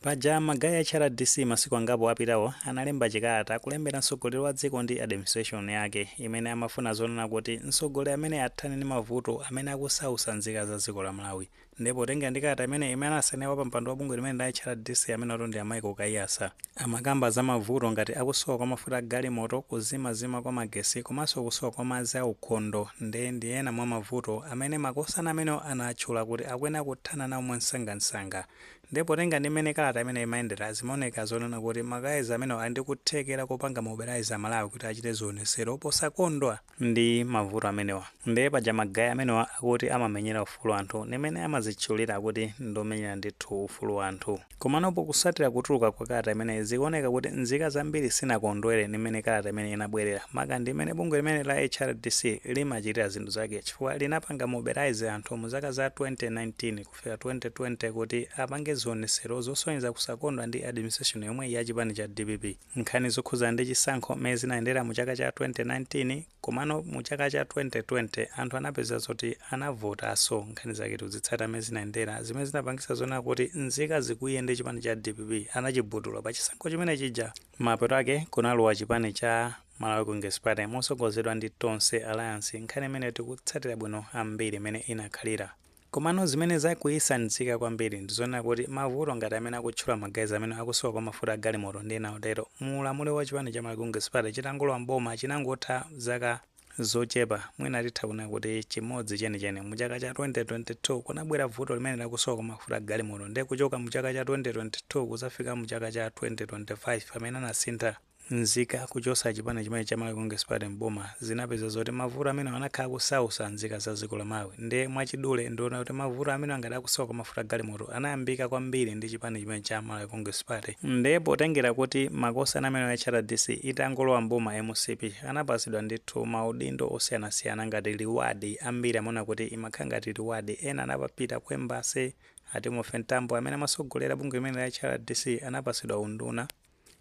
Paja ma guys a HRDC masiku angapo apitawo analemba chikalata kulembera mtsogoleri wa dziko ndi administration yake imene amafuna zonena kuti mtsogoleri ameneyi athane ndi mavuto amene akusausa nzika za dziko la Malawi nde potengera ndi kalata imeneyi imene anasainira wapampando wa bungwe limeneli la HRDC amenewotu ndi a Michael Kaiyatsa amakamba za mavuto ngati akusowa kwa mafuta a galimoto, kuzimazima kwa magetsi komanso kusowa kwa madzi a ukhondo nde ndi ena mwa mavuto amene makosana amenewo anatchula kuti akuyenera kuthana nawo mwansangansanga. Ndiye potengera ndi mmene kalata imeneyo imayendera, zimaoneka zonena kuti ma guys amenewa ali ndi kuthekera kopanga mobilize a Malawi kuti achite zionesero posakondwa ndi mavuto amenewa. Ndiye paja ma guys amenewa akuti amamenyera ufulu wa anthu ndi mmene amazitchulira kuti ndi omenyera ndithu ufulu wa anthu. Komano potsatira kutuluka kwa kalata imeneyi, zikuoneka kuti nzika zambiri sizinakondwere ndi mmene kalata imeneyi inabwerera, maka ndi mmene bungwe limeneli la HRDC limachitira zinthu zake chifukwa linapanga mobilize anthu mu zaka za 2019, kufika 2020 kuti apange zionesero zosonyeza kusakondwa ndi administration yomweyi ya chipani cha dpp. Nkhani zokhudzana ndi chisankho m'mene zinayendera mu chaka cha 2019 komano mu chaka cha 2020 anthu anapeza zoti anavotaso. Nkhani zake tikuzitsatira m'mene zinayendera zimene zinapangisa zonena kuti nzika zikwiye ndi chipani cha dpp, anachigubudula pa chisankho chimene chija. Mapeto ake kunalowa chipani cha Malawi Congress Party mosogozedwa ndi Tonse Alliance. Nkhani imeneyo tikuitsatira bwino ambiri m'mene inakhalira. Komano zimene zakwiyitsa nzika zambiri ndi zonena kuti mavuto ngati amene akutchula ma guys amenewa akusowa kwa mafuta a galimoto ndi ena otero mu ulamuliro wa chipani cha Malawi Congress Party chitangolowa m'boma chinangotha zaka zochepa mwina titha kunena kuti chimodzi chenicheni. Mu chaka cha 2022 kunabwera vuto limeneli la kusowa kwa mafuta a galimoto ndiye kuchoka mu chaka cha 2022 kudzafika mu chaka cha 2025 pamene anasintha Nzika kuchosa chipani chimenechi cha Malawi Congress Party m'boma zinapezeka zoti mavuto amenewa anakhala akusausa nzika za dziko la Malawi nde mwachidule ndi zonena kuti mavuto amenewa ngati akusowa kwa mafuta galimoto anayambika kwambiri ndi chipani chimenechi cha Malawi Congress Party nde potengera kuti makosana amenewa a HRDC itangolowa m'boma mcp anapatsidwa ndithu maudindo osiyanasiyana ngati reward ambiri amaona kuti imakhala ngati reward ena anapita ku embassy a Timothy Mtambo amene amatsogolera bungwe limeneli la HRDC anapatsidwa unduna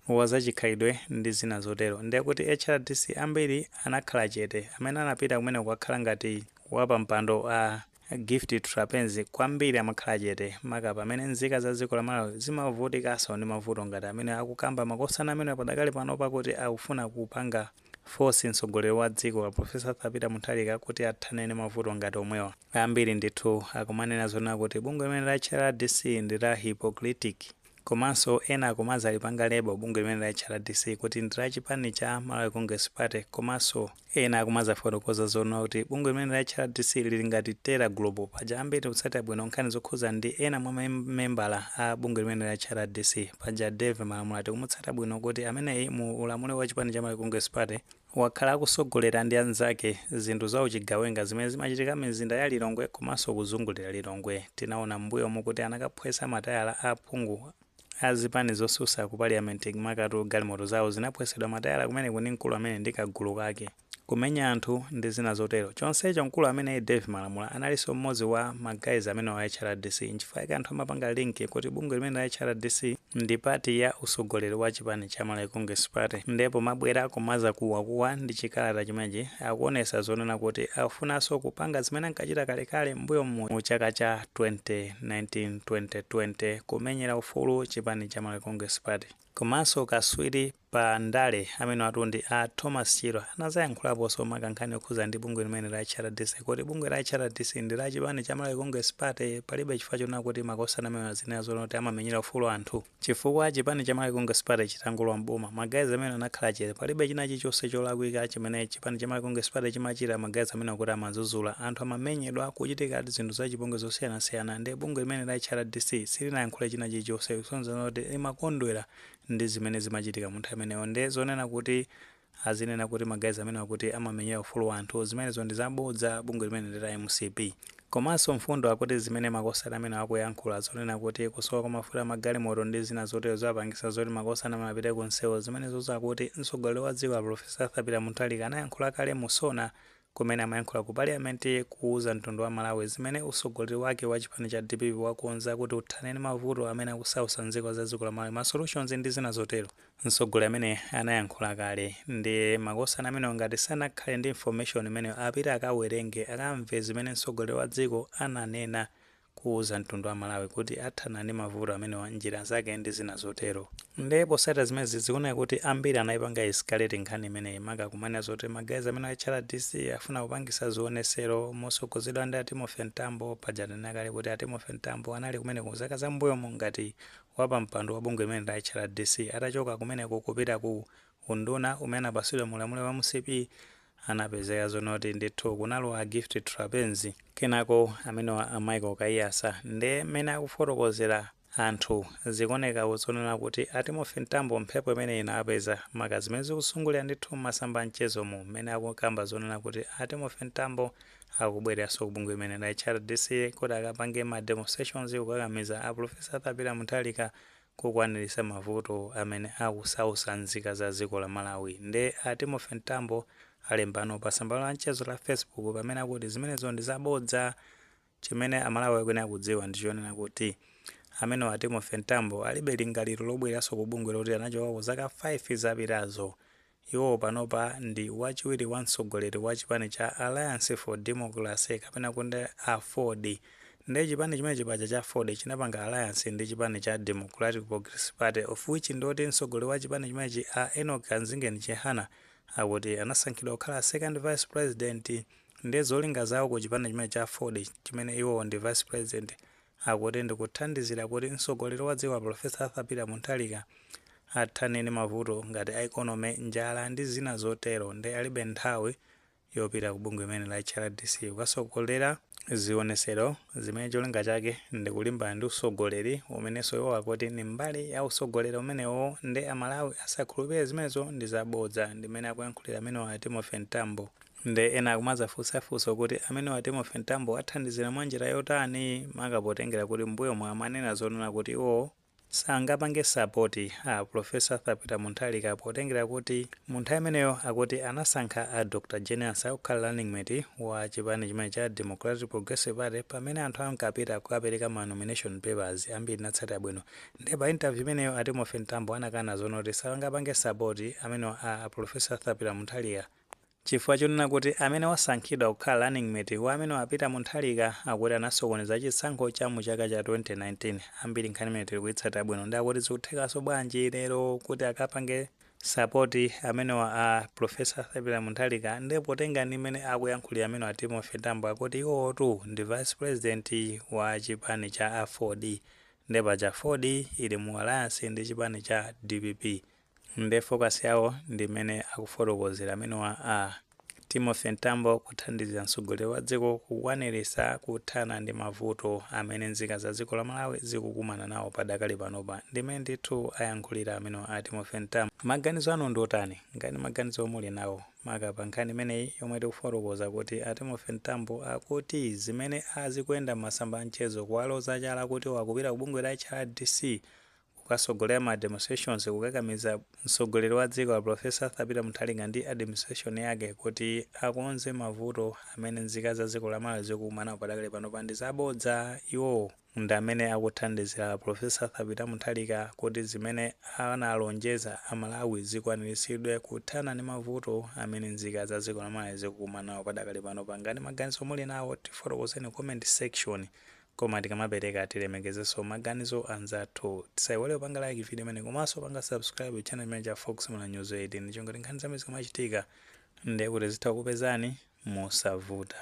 wa zachikhalidwe ndi zina zotero. Ndiye kuti HRDC ambiri anakhala chete, amene anapita kumene kukakhala ngati wapampando a Gift Trapence kwambiri amakhala chete, maka pamene nzika za dziko la Malawi zimavutikanso ndi mavuto ngati amene akukamba makosana amenewa padakali pano pakuti akufuna kupanga force mtsogoleri wa dziko a Professor Arthur Peter Mutharika kuti athane ndi mavuto ngati omwewa. Ambiri ndithu akumanena zonena kuti bungwe limeneli la HRDC ndi la hypocritic. Komanso ena akumadzalipanga label bungwe limeneli la HRDC kuti ndi la chipani cha Malawi Congress Party komanso ena akumadzafotokoza zoona kuti bungwe limeneli la HRDC lili ngati terror group. Paja ambiri tikutsatira bwino nkhani zokhudza ndi ena mwa ma membala a bungwe limeneli la HRDC. Paja Dave Malamula tikumutsata bwino kuti ameneyi mu ulamuliro wa chipani cha Malawi Congress Party, wakhala akusogolera ndi anzake zinthu za uchigawenga zimene zimachitika mizinda ya Lilongwe komanso kuzungulira Lilongwe. Tinaona m'mbuyomu kuti anakaphwetsa matayala a aphungu a zipani zosusa ku Parliament makatu galimoto zawo zinaphwetsedwa matayala kumeneku ndi mkulu ameneyi ndi kagulu kake, kumenya anthu ndi zina zotero. Chonsecho mkulu ameneyi Dave Malamula alinso m'modzi wa ma guys amenewa a HRDC. Nchifukwa chake anthu amapanga link kuti bungwe limeneli la HRDC Ndi part ya usogoleri wa chipani cha Malawi Congress Party nde pomabwera kumazakuwakuwa ndi chikalata chimenechi akuonesa zonena kuti akufunanso kupanga zimene ankachita kale kale m'mbuyomu mu chaka cha 2019 2020 kumenyera ufulu chipani cha Malawi Congress Party komanso kaswiri pa ndale amenewatu ndi a Thomas Chirwa anazayankhulaposo maka nkhani yokhuza ndi bungwe limeneli la HRDC kuti bungwe la HRDC ndi la chipani cha Malawi Congress Party palibe chifukwa chonena kuti makosana amenewa azinena zonena kuti amamenyera ufulu anthu chifukwa chipani cha Malawi Congress Party chitangolowa mboma ma guys amenewa anakhala chete palibe china chilichonse cholakwika chimene chipani cha Malawi Congress Party chimachita ma guys amenewa akuti amazuzula anthu amamenyedwa kuchitika zinthu za chipongwe zosiyanasiyana ndi bungwe limeneli la HRDC silinayankhule china chilichonse kusonyeza kuti limakondwera ndi zimene zimachitika munthawi imeneyo nde zonena kuti azinena kuti ma guys amenewa kuti amamenyera ufulu wanthu zimenezo ndi zabodza bungwe limeneli ndi la mcp komanso mfundo akuti zimene makosana amenewa akuyankhula zonena kuti kusowa kwa mafuta amagalimoto ndi zina zotero ziwapangisa zoti makosana amenewa apite ku nseu zimenezo akuti mtsogoleri wa dziko a professor arthur peter mutharika anayankhula kale mu sona kumene amayankhula ku parliament kuuza mtundu wa Malawi zimene usogoleri wake wa chipani cha dpp wakonza kuti uthane ndi mavuto amene akusausa nzika za dziko la Malawi, ma solutions ndi zina zotero. Msogoleri ameneyi anayankhula kale nde makosana amenewa ngati sanakhale ndi information imeneyo apite akawerenge, akamve zimene msogoleri wa dziko ananena kuuza mtundu wa Malawi kuti athana ndi mavuto amenewa m'njira zake ndi zina zotero. Nde potsatira zimenezi zikuoneka kuti ambiri anaipanga escalate nkhani imeneyi maka kumanena zoti ma guys amenewa a HRDC afuna kupangisa zionesero mosogozedwa ndi a Timothy Mtambo paja tanena kale kuti a Timothy Mtambo anali kumeneko mzaka za m'mbuyomu ngati wapampando wa bungwe limeneli la HRDC atachoka kumeneko kupita ku unduna umene anapatsidwa mu ulamuliro wa mcp anapezeka zonakuti ndithu kunalowa a Gift Trapence. Kenako amenewa a Michael Kaiyatsa nde mmene akufotokozera anthu zikuoneka ku zonena kuti a Timothy Mtambo mphepo imeneyi inawapeza maka zimene zikuzungulira ndithu mmasamba a mchezo mmene akukamba zonena kuti a Timothy Mtambo akubwereranso ku bungwe limeneli la HRDC kuti akapange ma demonstrations kukakamiza a Prof Arthur Peter Mutharika kukwaniritsa mavuto amene akusautsa nzika za dziko la malawi nde a Timothy mtambo alembano pa tsamba la mchezo la facebook pamene akuti zimenezo ndi za bodza chimene amalawi akuyenera kudziwa ndi chonena kuti amenewa a Timothy mtambo alibe lingaliro lobwereranso ku bungwe loti anachokako zaka 5 zapitazo Iwo panopa ndi wachiwiri wa mtsogoleri wa chipani cha Alliance for Democracy kapena kuti aford nde chipani chimenechi paja cha aford chinapanga alliance ndi chipani cha Democratic Progressive Party of which ndioti mtsogoleri wa chipani chimenechi a Enock Kamzingeni Chihana akuti anasankhidwa kukhala second vice president nde zolinga zawo ku chipani chimenechi cha aford chimene iwowo ndi vice president akuti ndi kuthandizira kuti mtsogoleri wa dziko a Prof Arthur Peter Mutharika athane ndi mavuto ngati a economy, njala ndi zina zotero nde alibe nthawi yopita ku bungwe limeneli la HRDC kukatsogolera zionetsero zimene cholinga chake ndi kulimbana ndi utsogoleri umenenso iwo akuti ndi mbali ya utsogoleri umenewo nde a Malawi asakhulupire zimenezo ndi za bodza, ndi mmene akuyankhulira amenewa a Timothy Mtambo. Nde ena akumadzafunsa funso kuti amenewa a Timothy Mtambo athandizira mwa njira yotani maka potengera kuti m'mbuyomu amanena zonena kuti iwowo sangapange sapoti a Prof Arthur Peter Mutharika potengera kuti mu nthawi imeneyo akuti anasankha a Dr Jane Ansah kukhala running mate wa chipani chimenechi cha Democratic Progressive Party pamene anthu ankapita kukapereka ma nomination papers ambiri munatsatira bwino nde pa interview imeneyo a Timothy Mtambo anakana zonoti sangapange sapoti amenewa a Prof Arthur Peter Mutharika Chifukwa chonena kuti amene wasankhidwa kukhala running mate wa amenewa a Peter Mutharika akuti anasokoneza chisankho cha mu chaka cha 2019 ambiri nkhani imeneyi tilikuyitsatira bwino nde akuti zikuthekanso bwanji lero kuti akapange support amenewa a Prof Arthur Peter Mutharika nde potenga ndi mmene akuyankhulira amenewa a Timothy Mtambo akuti iwowotu ndi vice president wa chipani cha aford nde paja aford ili mu alliance ndi chipani cha dpp Nde focus yawo ndi mmene akufotokozera amenewa a Timothy Mtambo kuthandizira mtsogoleri wa dziko kukwaniritsa kuthana ndi mavuto amene nzika za dziko la Malawi zikukumana nawo padakali panopa ndi mmene ndithu ayankhulira amenewa a Timothy Mtambo. Maganizo anu ndi otani? Ngati maganizo muli nawo maka pa nkhani imeneyi yomwe tikufotokoza kuti a Timothy Mtambo akuti zimene a zikuyenda mmasamba a mchezo kuwaloza chala kuti iwo akupita ku bungwe la HRDC kukatsogolera ma demonstrations kukakamiza mtsogoleri wa dziko a Prof Arthur Peter Mutharika ndi administration yake kuti akonze mavuto amene nzika za dziko la Malawi zikukumanawo padakali panopa ndi zabodza, iwowo ndi amene akuthandizira a Prof Arthur Peter Mutharika kuti zimene analonjeza a Malawi zikwanilitsidwe kuthana ndi mavuto amene nzika za dziko la Malawi zikukumanawo padakali panopa, ngati maganizo muli nawo tifotokozeni comment section Koma tikamapereka tilemekezenso maganizo anzathu. Tisaiwale kupanga like video imeneyi komanso kupanga subscribe channel chimenechi cha Fox Malawi News 18 n'cholinga choti nkhani zambiri zikamachitika nde kuti zitha kukupezani mosavuta.